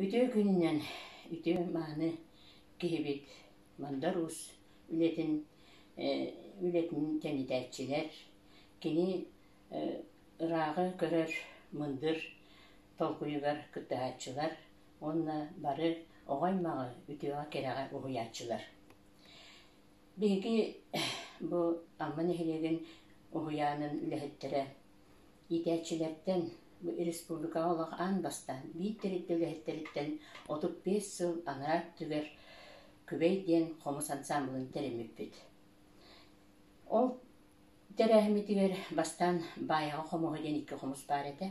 Үтүө күнүнэн үтүө мааны киһибит Мандар Уус үлэтин үлэтин тэнитээччилэр, кини ырааҕы көрөр мындыр толкуйугар кыттыһааччылар уонна бары оҕо-аймаҕы үтүөҕэ-кэрэҕэ уһуйааччылар. Биһиги бу Амма нэһилиэгин уһуйаанын үлэһиттэрэ Иитээччилэртэн, республикаҕа олох аан бастаан биир тэрилтэ үлэһиттэриттэн отут биэс сыл анараа өттүгэр Күбэй диэн хомус ансаамбылын тэрэммиппит. Ол тэрээһиммитигэр бастаан Баайаҕа хомуһа диэн икки хомус баар этэ.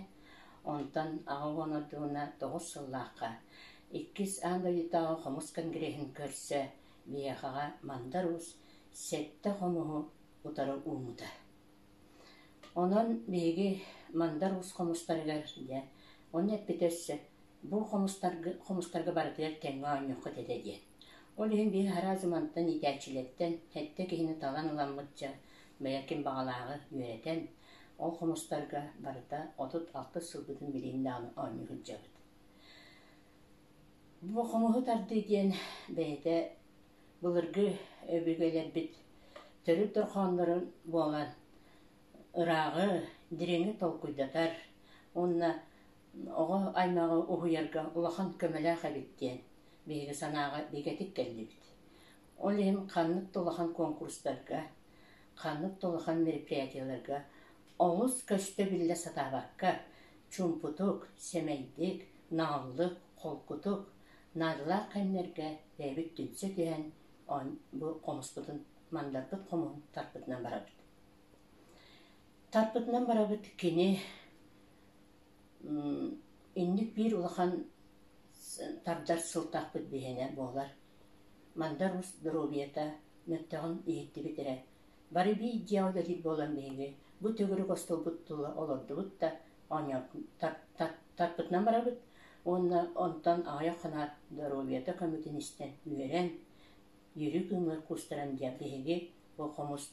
Онтон аҕа уон ордуна тоҕус сыллаахха иккис аан дойдутааҕы хомус конгреһын көрсө биһиэхэҕэ Мандар Уус сэттэ хомуһу утары уумута. Онон биһиги Мандар уус хомустарыгар дьэ онно эппитэ өссө «Бу хомустарга хомустарга барытыгар кэмҥэ оонньуоххут этэ» диэн. Ол иһин биһи араас дьон мантан иитээччилэртэн сэттэ киһини талан ыламмыт дьэ бэйэ ким баҕалааҕы үөрэтэн, ол хомустарга барыта отут алтыс сылбытын билигин даҕаны оонньуу сылдьабыт. Бу хомуһу тардыы диэн бэйэтэ былыргы өбүгэлэрбит төрүт дорҕооннорун буолан ырааҕы, дириҥи толкуйдатар уонна оҕо аймаҕы уһуйарга улахан көмөлөөх эбит диэн биһиги санааҕа бигэтик кэллибит. Ол иһин ханнык да улахан куонкурустарга, ханнык да улахан мероприятиеларга олус көстө-биллэ сатаабакка чуумпутук, сэмэйдик, нааллык, холкутук наадалаах кэмнэргэ бэйэбит түмсэ түһэн бу хомуспутун мандарпыт хомуһун тарпытынан барабыт. Тарпытынан барабыт кини инник биир улахан тардар сылтаахпыт биһинэ буолар. Мандар ус доруобуйата мөлтөҕүн иһиттибит эрэ Бары биир дьиэ үлэтин буолан биһиги бу төгүрүк остуолбут тула олордубут да тарпытынан барабыт уонна онтон аҕыйах ханаар доруобуйата көмөтүн истэн үөрэн Үрүк Ымыр кустаран диэн биһиги бу хомус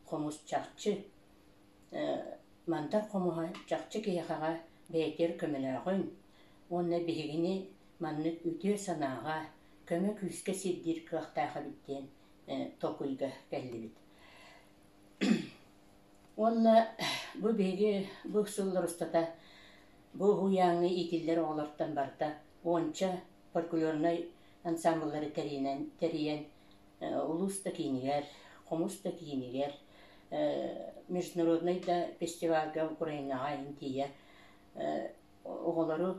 хомус чахчы мантан хомуһа чахчы киһиэхэҕэ бэйэтигэр көмөлөөҕүн уонна биһигини маннык үтүө санааҕа көмө күүскэ сирдиир кыахтаах эбит диэн токуйга кэллибит. Уонна бу биһиги бу сыллар устата бу уһуйааҥҥа иитиллэр оҕолортон барта уонча фольклорнай ансамбллары тэрийэн, тэрийэн улуус да киинигэр, хомус да киинигэр, международнай да фестивальга Украинаҕа интийэ оҕолору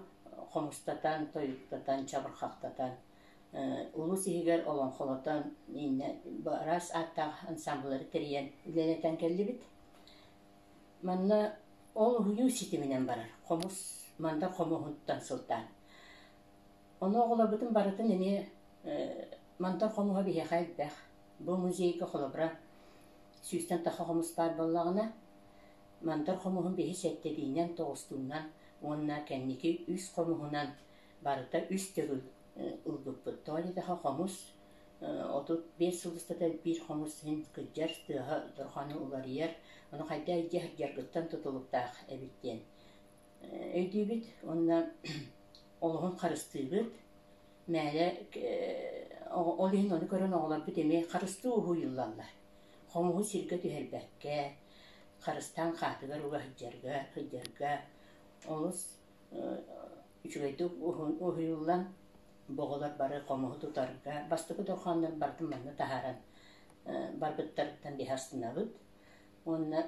хомустатан, тойуктатан, чабырхахтатан улуус иһигэр олоҥхолотон иннэ араас ааттаах ансаамбыллары тэрийэн үлэлэтэн кэллибит. Манна ол уһуйуу ситиминэн барар хомус, мандар хомуһуттан сылтаан. Ону оҕолорбутун барытын эмиэ мандар хомуһа биһиэхэ элбэх. Бу музейга холобура сүүстэн таха хомус баар буоллаҕына, мандар хомуһун биһи сэттэбиинэн, тоҕустуунан уонна кэнники үс хомуһунан барыта үс төгүл ылбыппыт. Тоолидаха хомус отут биэс сыл устата биир хомус иһин кырдьар тыаһа дорҕону уларыйар, ону хайдах илдьэ сылдьаргыттан тутулуктаах эбит диэн өйдүүбүт уонна олоһун харыстыыбыт. Мээлэ ол иһин ону көрөн оҕолорбут эмиэ харыстыы уһуйуллаллар. Хомуһу сиргэ түһэрбэккэ, харыстаан хаатыгар уга сылдьарга, сылдьарга олус үчүгэйдик уһуйуллан боҕолор бары хомуһу тутарга бастакы дорҕооннор бардын манна таһааран барбыттарыттан биһи астынабыт уонна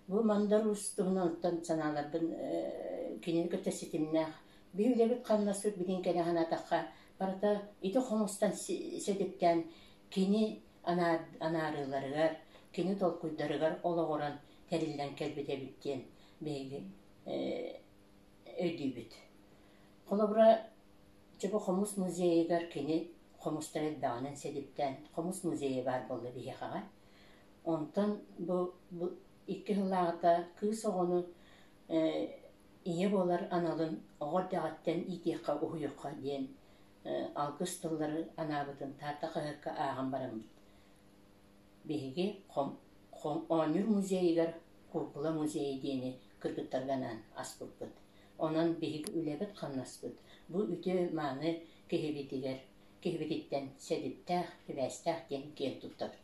бу мандарус туһунан оттон санааларбын кинини кытта ситимнээх биһи үлэбит хамнаспыт билин кэнэ санаатахха барыта ити хомустан сэдиптээн кини анаарыыларыгар кини толкуйдарыгар олоҕуран тэриллэн кэлбит эбит диэн бэйигин өйдүүбүт. Холобура, дьэ бу хомус музейыгар кини хомустар элбэҕинэн силиптээн хомус музейа баар буолла биһиэхэҕэ. Онтон бу, бу икки сыллааҕыта кыыс оҕону ийэ буолар аналын оҕо эрдэҕиттэн иитиэххэ, уһуйуохха диэн алгыс тыллары анаабытын Таатта хаһыакка ааҕан бараммыт. Биһиги Оонньуур музейыгар куукула музейа диэни кыргыттарга анаан аспыппыт. Онон биһиги үлэбит-хамнаспыт бу үтүө-мааны киһибитигэр киһибититтэн сэдиптээх, сибээстээх диэн киэн туттабыт